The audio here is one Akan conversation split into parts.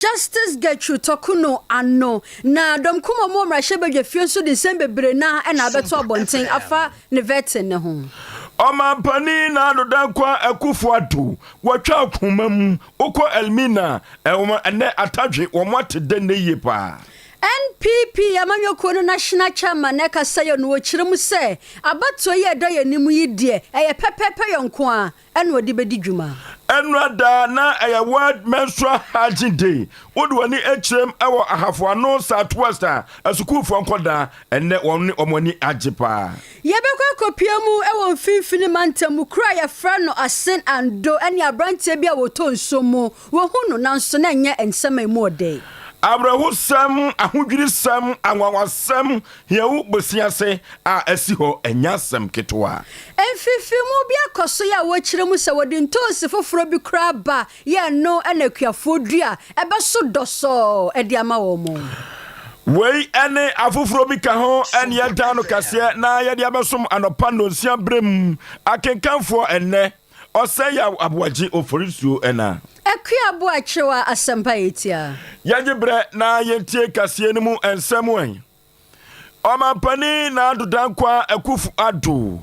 Justice Gertrude Torkornoo ano, na Dɔm Kumamɔ Mmarahyɛbadwafie nso de nsɛm bebree no ara na abɛto abɔnten afa ne vetting no ho. Ɔmanpanin Nado Dankwa Akufo-Addo, wɔatwa akoma mu, wokɔ Elmina, ɛwɔ ɛnnɛ Atadwe, wɔate dɛ nnɛ yie paa. NPP amanyɔkuo no National Chairman na ɛkasa yi, ɔno ɔkyerɛ mu sɛ, Abatoɔ yi a ɛda yɛn anim yi deɛ, ɛyɛ pɛpɛɛpɛ yɛn nko ara, Ɛna ɔde bɛdi dwuma. Ɛna da a na ɛyɛ World Menstrual Hygiene Day. Wode w'ani kyerɛm wɔ Ahafo Ano, Southwest a, asukuufoɔ nkwadaa ɛnnɛ wɔn ne wɔn ani agye paa. Yɛbɛkɔ akɔpia mu wɔ mfimfini mantam mu kuro a yɛfrɛ no Asen Ando ne aberanteɛ bi a ɔtɔ nsuo mu. Wahu no nanso na ɛnyɛ nsɛm a ɛmu ɔdɛ. Awerɛhosɛm, ahodwirisɛm, anwanwasɛm Yehu bosea se a asi hɔ, ɛnyɛ asɛm ketewa. Mfefemu bi akɔ so yɛ a wɔkyerɛ mu sɛ wɔde ntoosi foforɔ bi koraa ba yɛ ɛno na akuafoɔ dua a ɛbɛso dɔsɔɔ de ama wɔn. Wei ne afoforɔ bi ka ho ne yɛdan no kaseɛ na yɛde abɛsom anɔpa nnɔnsia berɛ mu akenkanfoɔ ɛnnɛ. Ɔsɛe a aboagye ofori nsuo ɛna. Akua bo akyerew a asɛmpa yɛ tiaa. Yɛgye berɛ na yɛntie kaseɛ no mu nsɛm ɛ. Ɔmanpanin Nana Addo Dankwa Akufo Addo,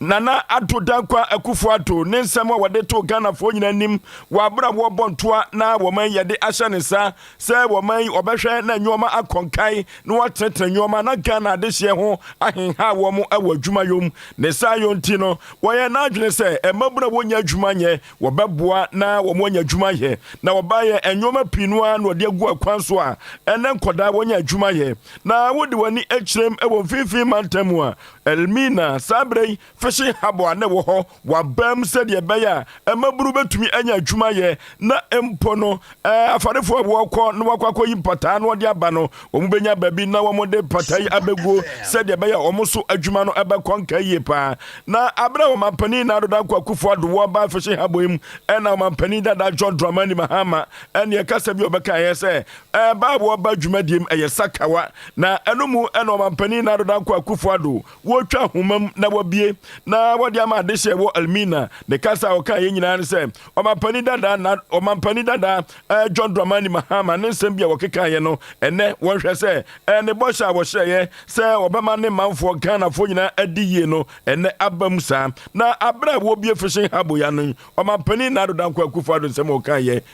Nana Addo Dankwa Akufo Addo, ne nsɛm a wɔde too Ghanafoɔ nyinaa anim wɔ aberɛ a wɔrebɔ ntoa na wɔn yɛde ahyɛ ne nsa sɛ wɔma yi wɔbɛhwɛ na nneɛma akɔ nkan na wɔatenetene nneɛma na Ghana adehyeɛ ho ahenha wɔn wɔ adwumayɔ mu. Ne saa yɔ nti no, wɔyɛ n'adwene sɛ mmabunu a wɔnnya adwuma nyɛ, wɔbɛboa na wɔanya adwuma ayɛ. Na wɔbaeɛ, nneɛma pii no ara na wɔde agu akwan so a ɛnnɛ nkwadaa wɔnya adwuma yɛ. Na wode w'ani kyerɛm wɔ mfimfini mantam mu a, Elmina, saa berɛ yi, fishing harbour a na ɛwɔ hɔ, Wɔabam sɛdeɛ ɛbɛyɛ a mmabunu bɛtumi anya adwuma ayɛ na mpo no eh, afarefoɔ a wɔkɔ na wɔakɔ akɔyi mpataa na wɔde aba no, wɔbɛnya baabi na wɔde mpataa yi abɛguo sɛdeɛ ɛbɛyɛ a wɔn so adwuma no bɛkɔ nka yie pa ara. Na berɛ a Ɔmampanin Nana Addo Dankwa Akufo-Addo wɔ Ɔbaa Fishing Harbour yi mu na Ɔmampanin dada John Dramani Mahama neɛ kasa bi a ɔbɛkaeɛ sɛ eh, baa a wɔba dwumadie mu yɛ sakawa na ɛno mu na Ɔmampanin Nana Addo Dankwa Akufo-Addo Wotwa nhoma mu na wɔabue na wɔde ama adehyeɛ wɔ Elmina. Ne kasa a ɔkaeɛ nyinaa ne sɛ ɔmampanin dada na ɔmampanin dada eh, John Dramani Mahama ne nsɛm bi a wɔkekaeɛ no ɛnɛ wɔnhwɛ sɛ eh, ne bɔhyɛ a wɔhyɛeɛ sɛ ɔbɛma ne manfoɔ Ghanafoɔ nyinaa adi yie no ɛnɛ aba mu saa. Na aberɛ a wɔrebue Fishing Harbour ya no yi, ɔmampanin Nado Dankwa Akufo-Addo nsɛm a ɔkaeɛ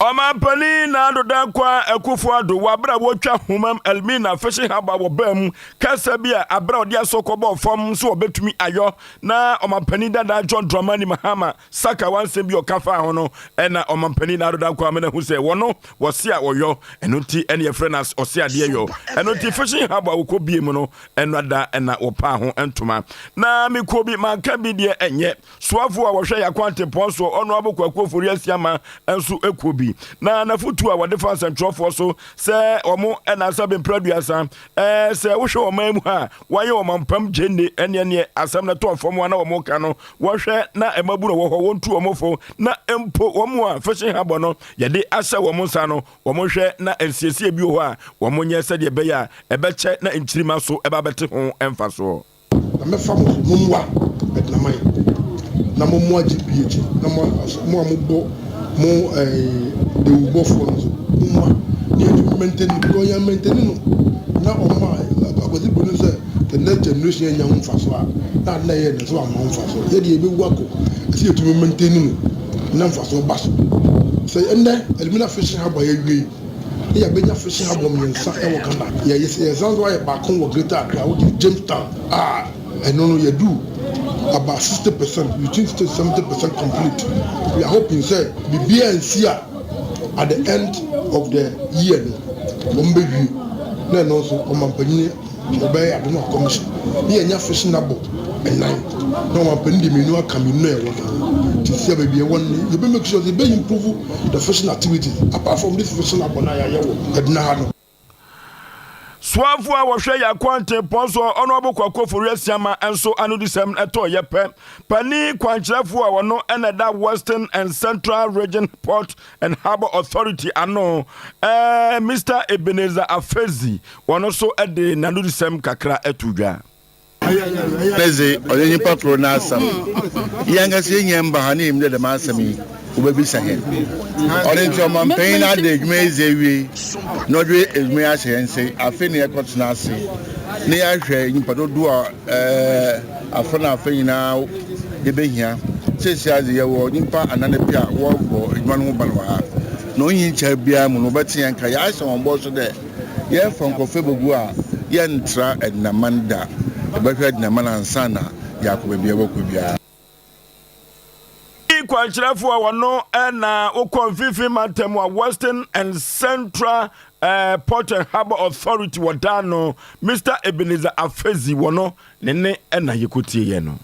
Ɔmampanin Nana Addo Dankwa Akufo-Addo wɔ aber a wotwa Humam Elmina Fishing Harbour wɔ baa mu kasa bi a aber a ɔdze aso kɔbɔɔ fam so obetumi ayɔ na Ɔmampanin dada John Dramani Mahama Sakawa nsɛm bi a ɔka faa ho no na Ɔmampanin Nana Addo Dankwa amena hu sɛ wɔno wɔse a wɔyɔ ɛno nti ɛne yɛfrɛ no ɔse adeɛ yɔ ɛno nti Fishing Harbour a wɔkɔ bie mu no ɛno ada na wɔpaa ho ntoma na mekuo bi manka bi deɛ ɛnyɛ Soafo a wɔhwɛ Yako Atempɔn soɔ Ɔnoabo Kwaku Ofori Asiama nso kuo bi na n'afotuo a wɔde fa nsɛntwerɛfoɔ so sɛ wɔn nnansa bɛmpira aduasa ɛɛ sɛ wohwɛ ɔman mu ha a wɔayɛ ɔmampam gyenne ɛneɛ neɛ asɛm no tɔɔ fam a na wɔn reka no wɔnhwɛ na mmabu no wɔ hɔ wɔntu wɔn fo na mpo wɔn a fishing harbour no yɛde ahyɛ wɔn nsa no wɔn nhwɛ na nsiesie bi wɔ hɔ a wɔn nyɛ sɛdeɛ ɛbɛyɛ a ɛbɛkyɛ na nkyirimma so ɛba bɛte ho mfasoɔ. Na mɛfa mo so, mo mmoa adinaman, na mo mmoa gyidie akyi, na mo a mo a mobɔ mo dawurubɔfoɔ no nso, mo mmoa. Deɛ enti memmɛntɛni, because wɔn yɛn mmɛntɛni no, na wɔn a akwasi bu no sɛ the next generation anya ho mfasoɔ a, na ade na ɛyɛ no nso amma ho mfasoɔ. Yɛ deɛ yɛbɛwu akɔ, ɛsɛ yɛtumi mmɛntɛni no na mfasoɔ ba so. Sɛ ɛnnɛ alumina fishing harbour a yɛawie yi, Ne yɛabɛnya fishing harbour mmiɛnsa wɔ Ghana. Yɛsan nso ayɛ baako wɔ Greater Accra which is Jamestown a ɛno no yɛaduru about sixty percent between sixty to seventy percent complete. We are hoping sɛ biribiara ansi a at the end of the year no wɔbɛwie na ɛno nso ɔmampanin Wɔbɛyɛ Apem Akɔm so na yɛanya Fishing Harbour nnan na ɔmampanin de mmienu aka mmienu na yɛwɔ no ho. Nti sɛ baabi yɛwɔ no no, yɛbɛ make sure sɛ yɛbɛ improve the fishing activities apart from this Fishing Harbour no a yɛayɛ wɔ Adena ha no. Soafoɔ a wɔhwɛ yɛn akwantempɔn so, Honourable Kwaku Ofori Asiama nso anodisɛm no tɔɔ yɛ pɛ. Panin kwankyerɛfoɔ a ɔno na ɛda Western and Central Region Port and Harbour Authority ano eh, Mister Ebenezer Afezi wɔn nso de n'anodisɛm kakra to dwa. Ɛnɛ dze, ɔnnyɛ nyimpa kor n'asɛm. Hɛnankasa yenya mbaha na yenyim dɛ dɛm asɛm yi wobebisa hɛn. Ɔno ntsi, ɔmampanyin no ada edwuma yi edzi ewie na ɔdze edwuma yi ahyɛ hɛn nsa yi. Afei na yɛkɔtsena ase na yɛahwɛ nyimpa dodow a eh, afã na afã nyina yebehia. Sesei ara dze yɛwɔ nyimpa anan pɛ a wɔrobɔ edwuma no ho ban wɔ ha, na onnyi nkyɛr biara mu no wɔbɛtse hɛn nka. Yɛahyɛ hɔn bɔ so dɛ yɛrefa nkorɔfo ebogu a yɛnntra Ednaman da. Yɛbɛhwɛ Ednaman ansaana yɛakɔ beebi a yɛbɔkɔ biara. kwankyerɛfo a wɔno na wokɔ mfimfini mantam a western and central uh, port and harbour authority wɔdaa no mr ebenezer afezi wɔ no ne ne na yɛkɔtie yɛ no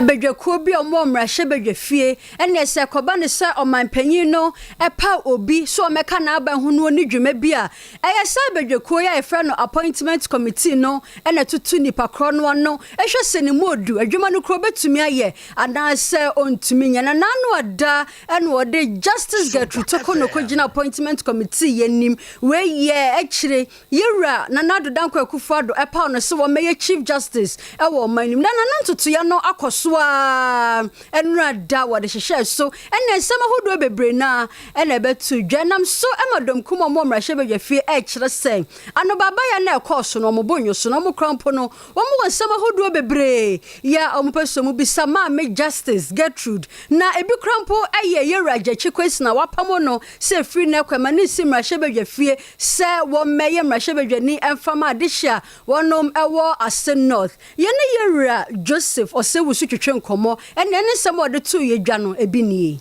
badwakuo bi a wɔn wɔ mmarahyɛ badwafie ɛnna sɛ ɛkɔba no sɛ ɔmanpanyin no ɛpa obi so ɔmɛka n'aba ho no ne dwuma bi a Ɛyɛ saa badwakuo yi a yɛfrɛ no Appointment Committee no na ɛtoto nipa korɔ no ano hwɛ sɛ ne mu ɔdu adwuma no kura ɔbɛtumi ayɛ anaa sɛ ɔntumi nyɛ. Na n'ano ada na wɔde Justice Gertrude Tokono kɔgyina Appointment Committee yi anim. Wei yɛ akyire Yɛwura Nana Addo Dankwa Akufo-Addo paw no sɛ wɔmmɛyɛ Chief Justice wɔ ɔman no mu. Na n'ano ntotoeɛ no akɔ so ara nnora da a wɔde hyehyɛɛ so ne nsɛm ahodoɔ bebree no ara na ɛbɛto dwa nam so ma dɔm kumɔɔ mu wɔ mmarahyɛbadwafie ɛrekyerɛ sɛ anobaabaeɛ no a ɛkɔɔ so no wɔn bo nnwo so na wɔn kora mpo no wɔn wɔ nsɛm ahodoɔ bebree yɛ a wɔn pɛ sɛ wɔn bisa maame Justice Gertrude na ebi kora mpo yɛ Yɛwura Gyakye Kwesina a wɔapamo no sɛ ɛfiri nnɛ kɔ ɛma no nsi mmarahyɛbadwafie sɛ wɔmmɛyɛ mmarahyɛbadwani ɛmfa ma adehye a wɔnom wɔ Ase North. Yɛne Yɛwura Joseph Ɔsɛwusu twetwe nkɔmmɔ na ɛne nsɛm a ɔde too yɛn dwa no ebi nie.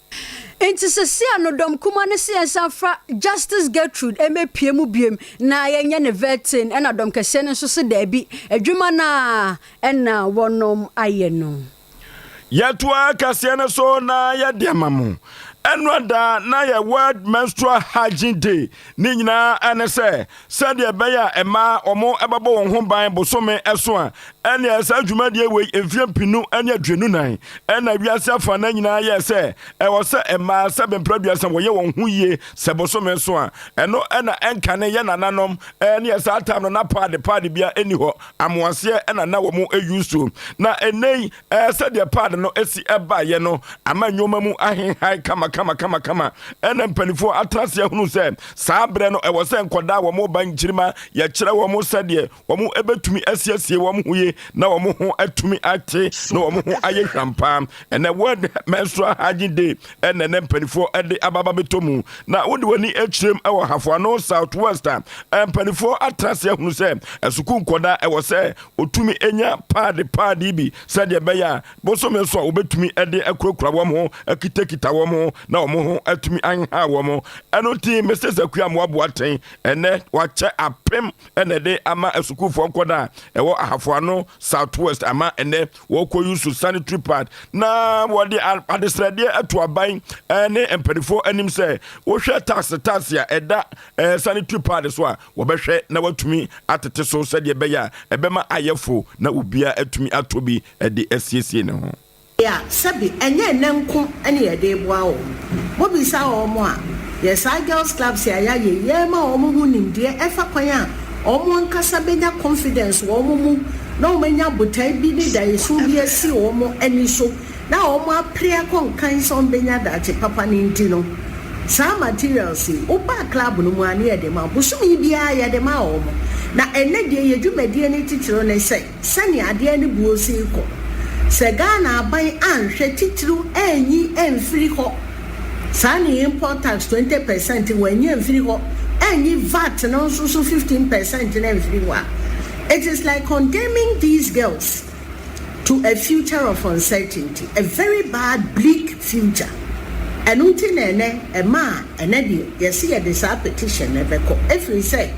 Enti sesia no dɔm kuma no se yɛnsan mfa Justice Gertrude mmepue mu biom na yɛnyɛ no vetting ɛna dɔm kɛseɛ no nso se daabi, adwuma no ara ɛna wɔnom ayɛ no. Yɛtoa kaseɛ no so na yɛde ama mo. Ɛnora da na yɛ World Menstrual Hygiene Day Ne nyinaa ne sɛ, sɛdeɛ ɛbɛyɛ a mmaa wɔbɛbɔ wɔn ho ban bosome so a, ɛneɛ saa dwumadie wei mfeɛ mpenu ne aduonu nan ɛna wiase afa no nyinaa yɛɛ sɛ ɛwɔ sɛ mmaa sɛ bɛmpra duasa wɔyɛ wɔn ho yie sɛ bosome so a ɛno ɛna ɛnkane yɛ nananom ɛneɛ saa tam no na paade paade bia ɛni hɔ amoaseɛ ɛna na wɔn ɛyusuo na ɛnɛi Ɛɛ, sɛdeɛ pad no si baeɛ no ama nnoɔma mu ahenhae kamakamakamakama. Ɛna mpanifoɔ atena ase ahunu sɛ saa berɛ no ɛwɔ sɛ nkwadaa a wɔreba nkyirimma yɛkyerɛ wɔn sɛdeɛ wɔn bɛtumi asiesie wɔn ho yie na wɔn ho atumi ate na wɔn ho ayɛ hwam paa. Ɛnɛ World Menstrual Hygiene Day ɛna ɛnɛ mpanifoɔ de aba abɛtɔ mu. Na wode w'ani kyerɛm wɔ Hafoano South West a, mpanifoɔ atena ase ahunu sɛ asukuu nkwadaa ɛwɔ sɛ wɔtumi nya paade paade bi sɛdeɛ ɛbɛyɛ a bosome so a wɔbɛtumi de akurakura wɔn ho akitakita wɔn ho na wɔn ho atumi anha wɔn ɛno nti Mr. Sakuya Moaboa Ten ɛnɛ wakyɛ apem ɛna ɛde ama asukuufoɔ nkɔda a ɛwɔ Ahafoano South West ama ɛnɛ wɔkɔ yusu sanitary pad na wɔde adesrɛdeɛ ato aban ne mpanifoɔ anim sɛ wohwɛ taase taase a ɛda sanitary pad so a Wɔbɛhwɛ na wɔatumi atete so sɛdeɛ ɛbɛyɛ a ɛbɛma ayɛ fo na obiara atumi atɔ bi de asiesie ne ho. a sɛbe ɛnyɛ ɛnnɛ nko ne yɛde reboa wɔn. Mobisa wɔn a, yɛ saa girls clubs a yɛayɛ yi rema wɔn ho nimdeɛ ɛfa kwan a wɔn ankasa bɛnya confidence wɔn mu na wɔanya botae bi ne daeɛso bi asi wɔn ani so. na wɔapere akɔ nkan sɛ wɔbɛnya daakye papa no nti no, saa materials yi, woba club no mu a na yɛde ma wo. Bosome biara yɛde ma wɔn. Na ɛnnɛ deɛ yɛn dwumadie no titiriw ne sɛ, sɛnea adeɛ no boɔ si rekɔ, sɛ Ghana aban anhwɛ titiriw anyi amfiri hɔ saa ne import tax twenty per cent wɔanyi amfiri hɔ, anyi vat no nso so fifteen per cent no amfiri hɔ a, it is like condemning these girls. to a future of uncertainty, a very bad bleak future. Ɛno nti na ɛnɛ ɛma a ɛnɛ deɛ yɛse yɛde saa petition no bɛkɔ ɛfiri sɛ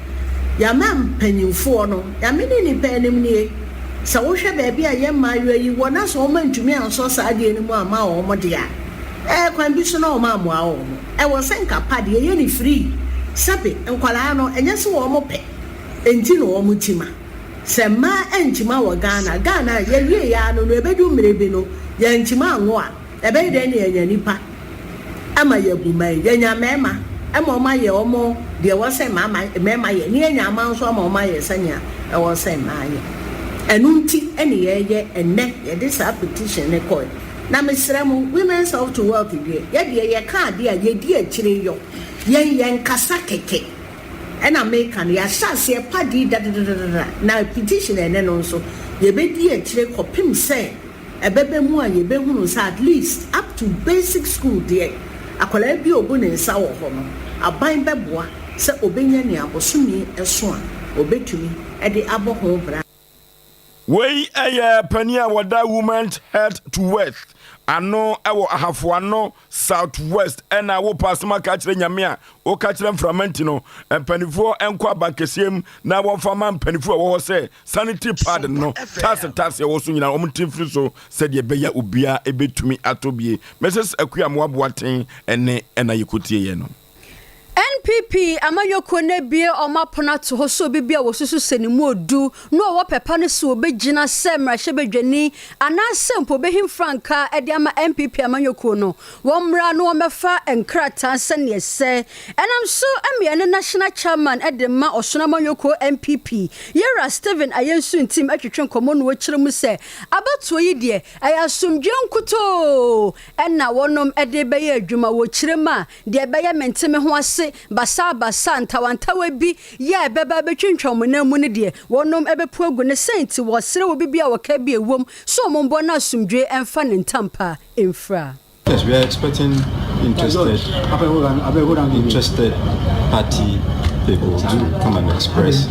yɛama mpanyinfoɔ no, Nyame ne nnipa anim nie, sɛ wohwɛ baabi a yɛn mmaayewa yi wɔ na sɛ wɔn antumi ansɔ saa adeɛ no mu amma wɔn deɛ a, ɛɛ kwan bi so na wɔn ammoa wɔn. Ɛwɔ sɛ nka pa deɛ yɛyɛ no free, sɛbe nkwadaa no ɛnyɛ sɛ wɔn pɛ nti na wɔn ti ma. Sɛ mmaa ankyima wɔ Ghana, Ghana a yɛwieeɛ ara no no ɛbɛdu mmerɛ bi no yɛankyima anwo a, ɛbɛyɛ dɛn na yɛanya nnipa ama yɛabu mmaa yi? Yɛanya mmarima ma wɔayɛ wɔn deɛ ɛwɔ sɛ mmarima yɛ, na yɛanya mmaa nso ama wɔayɛ sɛdeɛ ɛwɔ sɛ mmaa yɛ. Ɛno nti na yɛreyɛ ɛnnɛ, yɛde saa petition no kɔeɛ. Na mesrɛ mo, Women's Health to Wealth deɛ, yɛdeɛ yɛka adeɛ a yɛdi akyire yɔ, yɛn yɛnkasa kɛkɛ. Ɛna meka no yɛahyɛ aseɛ pa dii dadadadada na petition ɛne no nso yɛbɛdi akyire kɔpem sɛ ɛbɛba mu a yɛbɛhunu sɛ at least up to basic school deɛ akwadaa bi a ɔbu ne nsa wɔ hɔ no aban bɛboa sɛ ɔbɛnya nea bosome so a ɔbɛtumi de abɔ ho bra. Wei yɛ panin a wɔda Women's Health to West ano wɔ Ahafo Ano South West ɛna wopɛ asɛm aka akyerɛ Nyame a woka kyerɛ mframa nti no mpanimfoɔ nkɔ abankɛseɛ mu na wɔmfa ma mpanimfoɔ a wɔwɔ hɔ sɛ sanitary pad no tase tase ɛwɔ so nyinaa wɔn ntimfiri so sɛdeɛ ɛbɛyɛ obiara ɛbɛtumi atɔ bie Mrs Akua Moaboaten ɛne ɛna yɛkɔtieɛ no. NPP amanyɔkuo no abue wɔn apono ato hɔ sɛ obi bi a wɔsusu sɛ ne mu odu na ɔwɔ pɛ pa no sɛ ɔbɛgyina sɛ mmarahyɛbadwani anaasɛ mpo ɔbɛhim frankaa de ama NPP amanyɔkuo no wɔmmra na wɔmmɛfa nkrataa sɛdeɛ ɛsɛ ɛnam so ma yɛne National Chairman de ma Ɔsono Amanyɔkuo NPP Yɛwura Stephen Ayensu Ntim twetwe nkɔmmɔ na ɔkyerɛ mu sɛ abatoɔ yi deɛ ɛyɛ asomdwoeɛ nkutoo na wɔnom de rebɛyɛ adwuma wɔ kyerɛ mu a, deɛ ɛbɛyɛ mente me ho ase, basabasa, ntawantawa bi yɛ a ɛbɛba abɛtwintwa wɔn nan mu no deɛ, wɔnom bɛpu agu no, sɛn nti? Wɔsrɛ obi bi a ɔka bi a ɛwom sɛ wɔn mmɔ no asomdwoeɛ mfa ne ntampa mfira. Yes we are expecting interested interested party people to come and express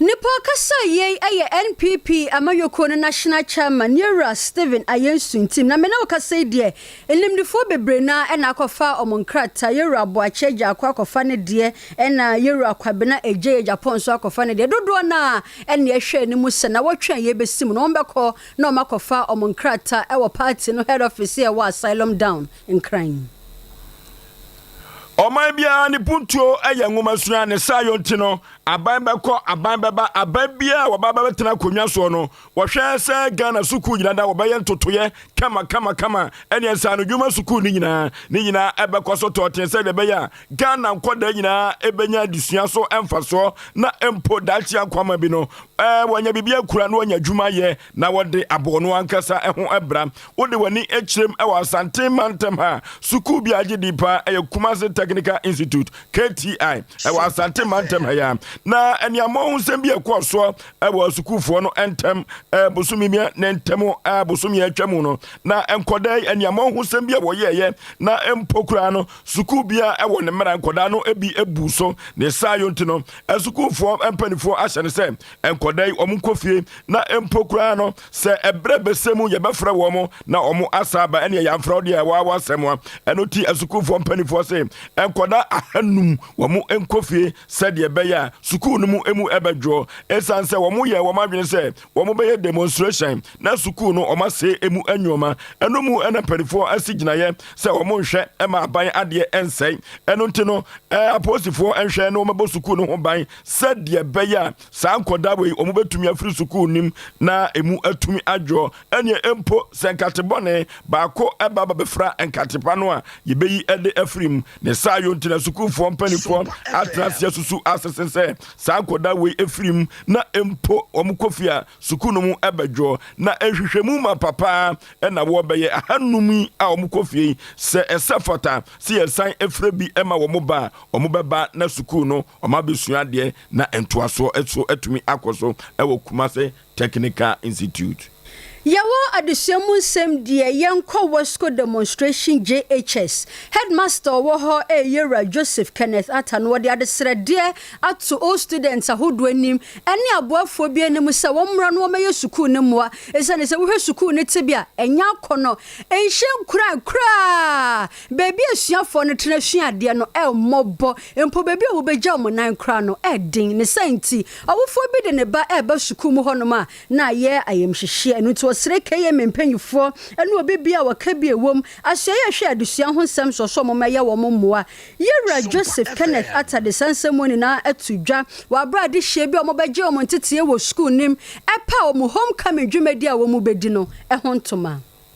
Nnipa ɔkasa a yei ɛyɛ NPP amanyɔkuo no national chairman Yewura Stephen Ayensu ntim na me ne wo kasa yi deɛ animdefoɔ bebree no ara na akɔfa wɔn nkrataa Yewura Aboakye Agyaako akɔfa ne deɛ ɛna Yewura Kwabena Egyei Agyapong nso akɔfa ne deɛ dodoɔ no ara ɛna ɛhwɛ anim sɛ nawɔtwe a yɛbɛsi mu no wɔn bɛkɔ na wɔn akɔfa wɔn nkrataa ɛwɔ party no head office a ɛwɔ Asylum Down Nkran. Ɔman biara ne puntuo yɛ nwomasua, ne saayɔ nti no, aban bɛkɔ, aban bɛba, aban biara a wɔba bɛbɛtena akonnwa soɔ no, wɔhwɛ sɛ Ghana sukuu nyina da wɔbɛyɛ ntotoyɛ kama kama kama ɛne nsaano dwuma sukuu no nyinaa, ne nyinaa ɛbɛkɔ so tɔɔten sɛdeɛ ɛbɛyɛ a Ghana nkwadaa nyinaa ɛbɛnya adesua so mfasoɔ na mpo daakye akwama bi no, wɔanya biribi akura na wɔanya adwuma ayɛ. Na wɔde aboɔ no ankasa ho bra. Wode w'ani kyerɛm wɔ Asante mantam ha a, sukuu bi a agye din pa ara yɛ Kumasi Technical Institute, KTI, wɔ Asante mantam ha yi ara. Na aniammɔnhosɛm bi a ɛkɔɔ soɔ wɔ sukuufoɔ no ntam bosome mmiɛ ne ntam bosome a atwa mu no, na nkɔdaa yi aniammɔnhosɛm bi a wɔyɛeɛ na mpo koraa no sukuu biara wɔ ne mmara nkɔdaa no bi buu so. Ne saa yonti no, sukuufoɔ mpaninfoɔ ahyɛ no sɛ nkɔda yi wɔn nkɔ fie na mpo koraa no sɛ ɛberɛ bɛsɛ mu yɛbɛfrɛ wɔn na wɔn asa aba ɛneɛ yɛamfrɛ wo deɛ ɛwɔ awɔ asɛm a ɛno ti asukuufoɔ mpanimfoɔ se nkɔda ahanum wɔn nkɔ fie sɛdeɛ ɛbɛyɛ a sukuu no mu emu ɛbɛdwoɔ ɛsiane sɛ wɔn yɛ wɔn adwene sɛ wɔn bɛyɛ demonstration na sukuu no wɔn asee emu nneɛma ɛno mu ɛna mpanimfoɔ asi gyinaeɛ sɛ wɔn nhwɛ ɛma aban adeɛ ɛnsɛe ɛno nti no ɛɛ apolisifoɔ nhwɛ na wɔn bɛbɔ sukuu no ho ban sɛdeɛ ɛbɛyɛ a saa nkwadaa wei wɔbɛtumi afiri sukuu nim na ɛmu atumi adwo, ɛneɛ mpo sɛ nkate bɔne baako ɛba ba bɛfra nkate pa no a yɛbɛyi ɛde afiri mu, ne saa yo nti na sukuufoɔ mpanifoɔ atena ase asusu asese sɛ saa nkwadaa wei ɛfiri mu na mpo wɔn kɔ fie a sukuu no mu ɛbɛdwo, na nhwehwɛmu ma papa ɛna wɔ bɛyɛ ahanum yi a wɔn kɔ fie yi sɛ ɛsɛ fata sɛ yɛsan ɛfrɛ bi ɛma wɔn ba a wɔn bɛba na sukuu no. Wɔabɛsua adeɛ na ntoasoɔ nso atumi akɔ so wɔ Kumasi Technical Institute. Yɛwɔ adesua mu nsɛm deɛ yɛnkɔ Westco Demonstration JHS. Headmaster a ɔwɔ hɔ yɛ Yɛwura Joseph Kenneth Atta na ɔde adesrɛdeɛ ato old students ahodoɔ anim ne aboafoɔ bi anim sɛ wɔmmra na wɔmmɛyɛ sukuu no mmoa ɛsiane sɛ wohwɛ sukuu no tebea a ɛnyɛ akɔnnɔ nhyɛ nkuran koraa Baabi a asuafoɔ no tena sua adeɛ no yɛ mmɔbɔ, mpo baabi a wɔbɛgya wɔn nan koraa no yɛ den. Ne saa nti, ɔwofoɔ bi de ne ba reba sukuu mu hɔnom a, na ayɛ ayamhyehyeɛ. Ɛno nti, ɔsrɛ KMA mpanimfoɔ ne obi biara a ɔka bi wom, asoɛeɛ a ɛhwɛ adesua ho nsɛm soɔ sɛ wɔmmɛyɛ wɔn mmoa. Yɛwura Joseph Kenneth Attah de saa nsɛm wɔ nyinaa ato dwa wɔ aberɛ a adehyeɛ bi a wɔbɛgye wɔn nteteeɛ wɔ sukuu no mu pa wɔn homecoming dwumadie a wɔbɛdi no ho ntoma.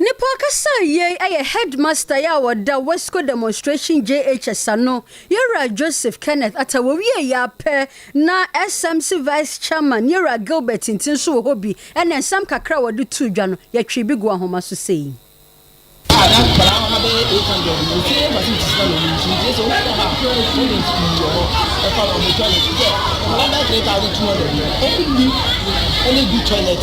Nipa ɔkasa a yei ɛyɛ headmaster yi a ɔda West Coast Demonstration JHS ano, Yɛwura Joseph Kenneth Atta wɔwieeɛ ara pɛ na SMC Vice Chairman Yɛwura Gilbert Tinti nso wɔ hɔ bi ɛna nsɛm kakra a wɔde too dwa no yɛtwee bi guu ahoma so sei. a na nkwadaa no ha bɛyɛ eight hundred no wɔtwe yɛ facilities ma wɔn nti nti sɛ wɔn kɔ ha a problems pii wɔ hɔ ɛfa wɔn toilet sɛ nkwadaa bɛyɛ three thousand two hundred no wɔn nni ɛna edu toilet.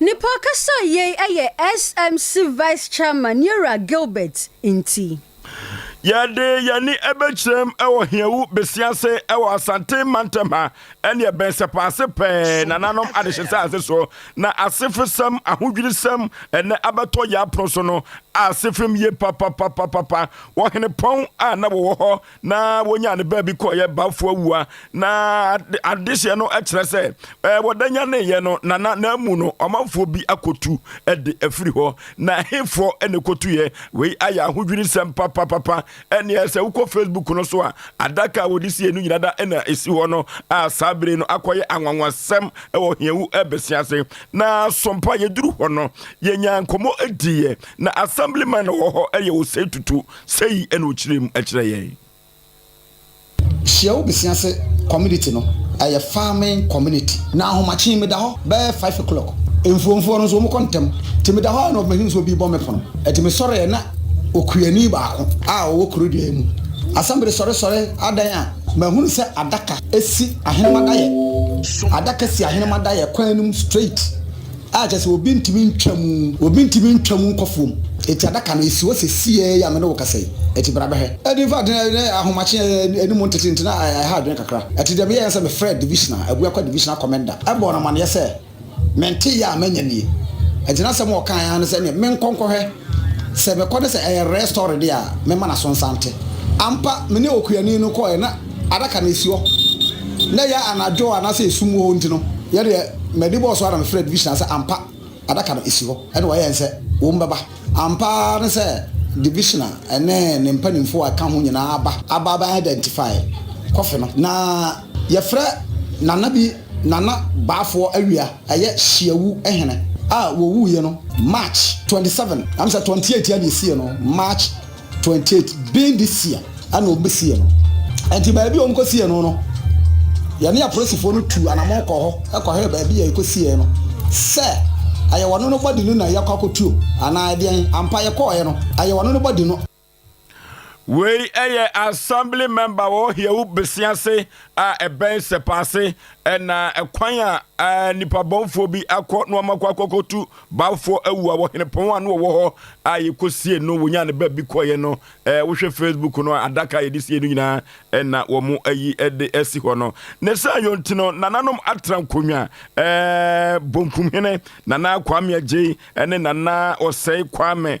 Ne pɔ ankasa yei yɛ SMC Vice Chairman Yera Gilbert nti. Yɛde yɛn ani bɛkyerɛm wɔ Hiawu Besia ase wɔ Asante Mantam ha. Ɛnneɛ bɛnsɛpase pɛɛ nananom adehyesɛ ase so na asefesɛm, ahodwirisɛm, ɛnnɛ abɛtɔ yɛn apono so no ase fem yie papapapapa. Wɔ Henepɔn a na wɔwɔ hɔ na wɔnyaa ne baabi kɔeɛ Bafoawua na adehyeɛ no kyerɛ sɛ ɛɛ wɔda nyaneeɛ no nana na amu no ɔmanfoɔ bi akɔtu de afiri hɔ na hefoɔ na ɛkɔtuiɛ. Wei ayɛ ahodwirisɛm papapapa. Ɛnneɛ sɛ wokɔ Facebook no so a, adaka a wɔde siee no nyina da na ɛsi hɔ no, a saa bere no akɔyɛ anwanwasɛm wɔ hiawu bɛse ase. Na so mpo a yɛduru hɔ no, yɛnyaa nkɔmmɔ diiɛ, na Assemblyman no wɔ hɔ yɛ ɔsɛe tutu, sɛi na ɔkyerɛɛ mu kyerɛɛ yɛn. Hyia wo besia se community no ɛyɛ farming community na ahomakye meda hɔ bɛyɛ five o'clock mfuomfoɔ no nso wɔn kɔ ntɛm nti meda hɔ a na wɔbɛhunu sɛ obi bɔ me pono ɛti me sɔreɛ na okuani baako a ɔwɔ kuro dua yi mu asɛmbere sɔre sɔre adan a mahunu sɛ adaka si ahenemadaeɛ adaka si ahenemadaeɛ kwan no mu straight. a kyerɛ sɛ obi ntumi ntwa mu. Obi ntumi ntwa mu nkɔ fam. Enti adaka no, esi hɔ sesie yi a me ne wo kasa yi. Enti bra bɛhwɛ. Ɛde mfa adwene ne ahomakye a anim ntete nti na ɛha adwene kakra. Ɛte deɛ meyɛɛ no sɛ mefrɛɛ divisional, Aguakwa divisional commander, bɔɔ no amanneɛ sɛ mente yea a manya nie. Enti n'asɛm a ɔkaeɛ ara ne sɛ ɛneɛ menkɔ nkɔhwɛ. Sɛ mekɔ ne sɛ ɛyɛ rare story de a, mɛma no aso nsa nte. Ampa, me ne okuani no kɔeɛ na adaka no si hɔ. Na ɛyɛ anadwo a na sɛ esum wɔ hɔ nti no, yɛ deɛ m'ani bɔɔ so ara na mefrɛɛ Division sɛ ampa adaka no si hɔ ɛna wɔayɛ nsɛ wɔn bɛba. Ampa ara ne sɛ Division ne ne mpanimfoɔ a ɛka ho nyinaa aba. Aba abɛ identify kɔfe no na Yɛfrɛ Nana bi Nana Baafoɔ Awia ɛyɛ Hyiawu hene a wɔwuiɛ no March twenty seven am sɛ twenty eight ɛna ɛsiiɛ no March twenty eight being this year ɛna wɔn bɛsiiɛ no ɛnti baabi wɔn kɔ siiɛ no no yɛne apolisifoɔ no tuu anamɔn kɔɔ hɔ kɔhwɛɛ baabi a yɛkɔ siiɛ no sɛ ɛyɛ wɔn no body no na yɛakɔ akɔtuo anaa ɛdeɛn ampa yɛkɔɔɛ no ɛyɛ wɔn no body no Wei yɛ Assembly Member wɔ Hewu Besiase a ɛbɛn Sɛpaase na kwan a nnipa bɔnfoɔ bi akɔ na wɔakɔ akɔkɔtu Bawofoɔ awu a wɔ Henepɔn a na wɔwɔ hɔ a yɛkɔsie no wɔnya ne baabi kɔeɛ no wohwɛ Facebook no a adaka a yɛde sie no nyinaa na wɔn ayi de asi hɔ no ne saa yɔnti no nananom atra nkonnwa Bonkum Hene Nana Kwame Agyei ne Nana Ɔsɛe Kwame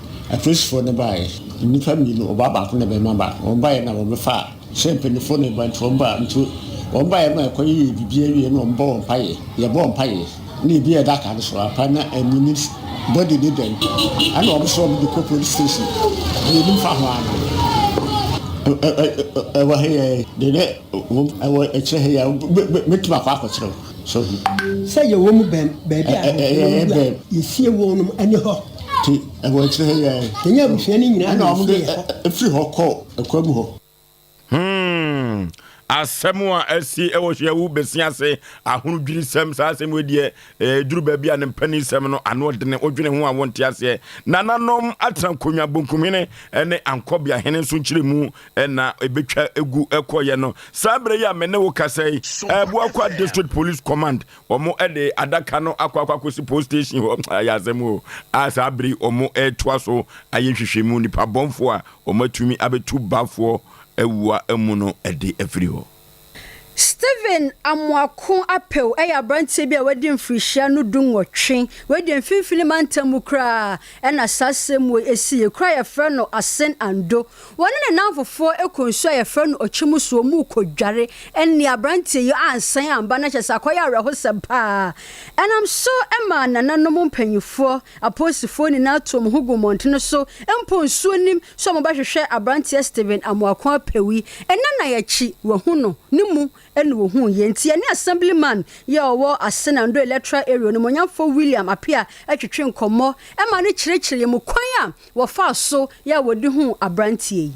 Apolisifoɔ no baeɛ. Nnipa mmienu, ɔbaa baako ne barima baako. Wɔn baeɛ na wɔbɛfaa sɛ mpanimfoɔ no reba nti wɔn baa nti wɔn baeɛ ma ɛkɔ yɛyɛ biribi awie na wɔn bɔ wɔn mpaeɛ. Yɛbɔ wɔn mpaeɛ na ebi a ɛda aka no so ampa na ɛnyini body no dɛn ɛna wɔn so wɔn de kɔ police station. Yɛnim fa ho ara no ɛwɔ ha yi de ne wɔn ɛwɔ akyire ha yi a mɛtumi akɔ akɔkyerɛ wo. Sɛ yɛwɔ mu bɛn baabi a nkorɔfoɔ no wu a, yɛsie wɔn nom ɛne hɔ. Te, ɛwɔ akyire ha yi ara yi. Yɛnyɛ abusua no nyinaa na yɛsie yɛ hɔ. Ɛna wɔde firi hɔ kɔ ɛkwan mu hɔ. Hmm, asɛm a asi wɔ Hweawu Basin ase, ahodwirisɛm, saa asɛm wei deɛ, ɛduru baabi a ne mpanisɛm no ano ɔdene, wodwene ho a wonte aseɛ. Nananom atena Konwa Bonkumhene ne Ankɔbeahene nso nkyerɛmu na ebetwa egu kɔeɛ no. Saa berɛ yi a me ne wo kasa yi, ɛɛbu akɔ District Police Command, wɔn de adaka no akɔ akɔ akɔsi police station hɔ. Ayɛ asɛm o. A saa bere yi wɔn retoa so ayɛ nhwehwɛmu, nipa bɔnfoɔ a wɔn atumi abɛtu bafoɔ awua mu no de afiri hɔ. Stephen Amoako Apew yɛ aberanteɛ bi a wadi mfirihyia no du nwɔtwe, wei deɛ mfimfini mantam mu koraa na saa asɛmmuo yi si, yɛ kuro a yɛfrɛ no Asen Ando, wɔne ne nnamfofoɔ kɔ nsuo a yɛfrɛ no Okyim so, wɔn rekɔ dware, ɛnneɛ aberanteɛ yi ansan amba na kyerɛ sɛ akɔyɛ awerɛhosɛm paa, ɛnam so maa nananom mpanimfoɔ Apolisifoɔ nyinaa too wɔn ho guu mmɔntene so mpo nsuo nim sɛ wɔbɛhwehwɛ aberanteɛ Stephen Amoako Apewi. Nnanan akyi, wɔahu no, ne mu na wɔhuuiɛ. Nti yɛne Assemblyman yi a ɔwɔ Asena Ndoye Electoral Area, Onimuonyamfoɔ William Apea twetwee nkɔmmɔ ma no kyerɛkyerɛɛ yɛn mu kwan a wɔfaa so yɛ a wɔde huu aberanteɛ yi.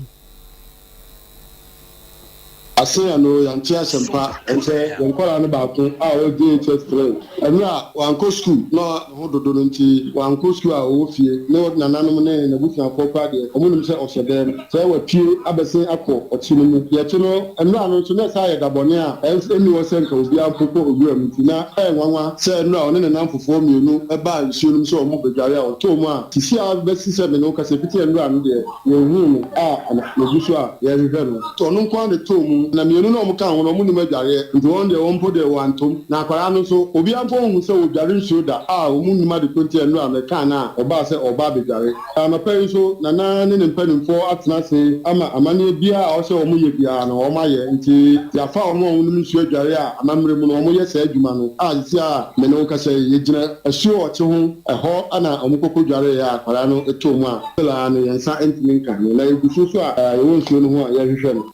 Asea no yɛante asɛm pa ɛnkyɛ yɛn nkwadaa no baako a ɔwɔ JHS three ɛno a wankɔ sukuu na ne ho dodo no nti wankɔ sukuu a ɔwɔ fie ne nananom ne n'abusuafoɔ koraa deɛ ɔmo nim sɛ ɔhyɛ dɛm sɛ wapue abɛsen akɔ ɔkye no mu deɛ ɛkye no nwura no nso na ɛsan yɛ da bɔne a ɛnni hɔ sɛ nka obiara mpo kɔ owura mu nti na ɛyɛ nwanwa sɛ nwura ɔne ne nnamfofoɔ mmienu baa nsuo no mu sɛ ɔmo rebɛdware a ɔtɔɔ mu a sisi a bɛsi sɛ me ne wo kasa fiti nwura no deɛ Yɛnhuu no a na yɛgu so a yɛrehwehwɛ no. Nti ɔno nko ara na ɛtɔɔ mu. Na mmienu no a wɔka ho no, wɔnnim adwareɛ. Nti wɔn deɛ, wɔn mpo deɛ, wɔantɔ mu. Na akwadaa no nso, obiara mpo nhuu sɛ ɔredware nsuo da. A wɔnnim ade ko nti ɛnnora no, ɛkaa no a ɔbaa sɛ ɔreba abɛdware. Anɔpa yi nso, Nana ne ne mpanimfoɔ atena ase ama amanneɛ biara a ɔsɛ wɔyɛ biara no, wɔayɛ. Nti yɛafa wɔn a wɔnim nsuo adware a amammerɛ mu no, wɔyɛ saa adwuma no. A seesei a me ne wo rekasa yi, yɛgyina asuo ɔkye ho. Ɛhɔ na wɔkɔ kɔdwareeɛ a akwadaa no tɔɔ mu a. Angela ano yɛn nsa ntumi nka ano na yɛgu so nso a yɛwɔ nsuo no ho a yɛrehwehwɛ no.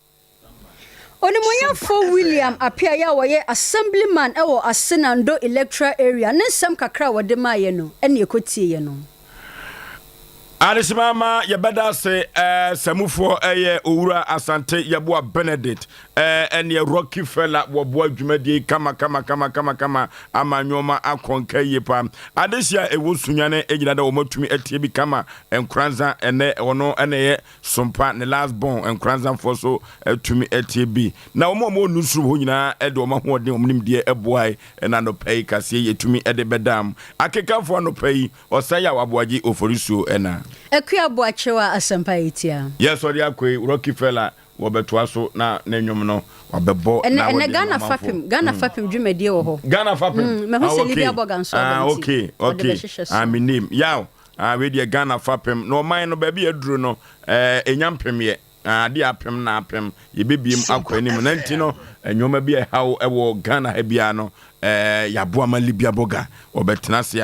Onimuonyamfoɔ William Apeaye a ɔyɛ Assemblyman wɔ Asena Ndo Electoral Area ne nsɛm kakra a ɔde maeɛ no ne yɛkɔtieɛ no. Adesemama yɛbɛda ase Samufoɔ yɛ Owura Asante Yeboah Benedict Ɛɛ ɛneɛ Rocky Fella wɔboa dwumadie yi kamakamakamakama ama nnoɔma akɔnka yie paa. Adesua a ɛwɔ Sunyane nyina da wɔn atumi atie bi kama Nkoranza ɛnɛ ɔno ɛna ɛyɛ Sompa ne last born Nkoranza foɔ so atumi atie bi na wɔn a wɔwɔ newsroom hɔ nyinaa ɛde wɔn ahoɔden wɔn nimdeɛ ɛboae ɛna anɔpa yi kaseɛ yi ɛtumi ɛde bɛdaam akekafoɔ anɔpa yi ɔsan yɛ a waboagye oforisuo ɛna. Akua Boakyewa asɛmpa yi tia. Yes ɔde akɔ yi Rocky Fella Wɔbɛtoa so na ne nnwom no wɔabɛbɔ na wɔde Ɛnɛ Ghana fapem Ghana mm. fapem dwumadie wɔ hɔ. Ghana fapem. Mm, mɛho ah, sɛ Lydia Boga nso aba ah, nti. Okay, okay. Ah, me name. Yaw. Ah, we deɛ Ghana fapem. Na ɔman no baabi aduru no, eh, ɛnya mpemyɛ. Ah, ade apem na apem. Yɛbɛbiem akɔ anim. Na nti no, eh, nneɛma bi a ɛhaw wɔ Ghana ha biara no, eh, yɛaboa ma Libya Boga. Ɔbɛtena ase a,